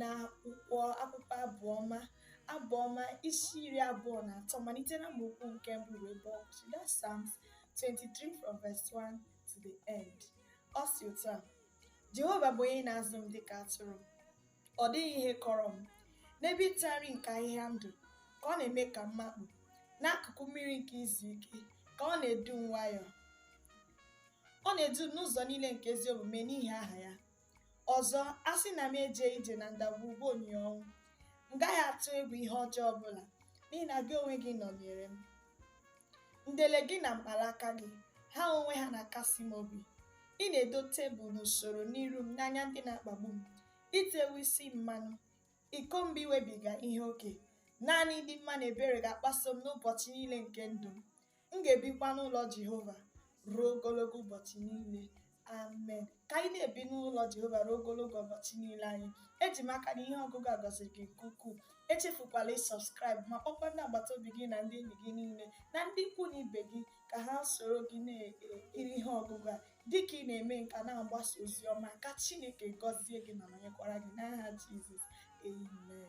na akwụkwọ akwụkwọ abụọma abụọma isi iri abụọ na atọ malite na amaokwu nke mbụ ruo ebe ọ kwụsịrị that's Psalms 23 from verse 1 to the end ọ si otu a Jehova bụ onye na-azụ m dịka atụrụ ọ dịghị ihe kọrọ m n'ebe ịta nri nke ahịhịa ndụ ka ọ na-eme ka m makpu n'akụkụ mmiri nke izu ike ka ọ na-edu m nwayọọ ọ na-edu m n'ụzọ niile nke ezi omume n'ihi aha ya Ọzọ, a sị na m ejee ije na ndagwurugwu onyinyo ọnwụ, m gaghị atụ egwu ihe ọjọọ ọ bụla, n'ihi na gị onwe gị nọnyeere m. Ndele gị na mkpanaka gị, ha onwe ha na-akasi m obi. Ị na-edo tebụl n'usoro n'iru m n'anya ndị na-akpagbu m. I tewo isi m mmanụ, iko m bụ inwebiga ihe oke. Naanị ịdị mma na ebere ga-agbaso m n'ụbọchị niile nke ndụ m. M ga-ebikwa n'ụlọ Jehova ruo ogologo ụbọchị niile. Amen. Ka anyị na-ebi n'ụlọ Jehova ruo ogologo ụbọchị niile anyị. Eji m aka na ihe ọgụgụ a gọziri gị nke ukwuu. Echefukwala ịsọbskraịb ma kpọkwa ndị agbata obi gị na ndị enyi gị niile na ndị ikwu na ibe gị ka ha soro gị na-ekiri ihe ọgụgụ a dịka ị na-eme nke a na-agbasa ozi ọma ka Chineke gọzie gị ma nọnyekwara gị n'aha Jizọs. Amen.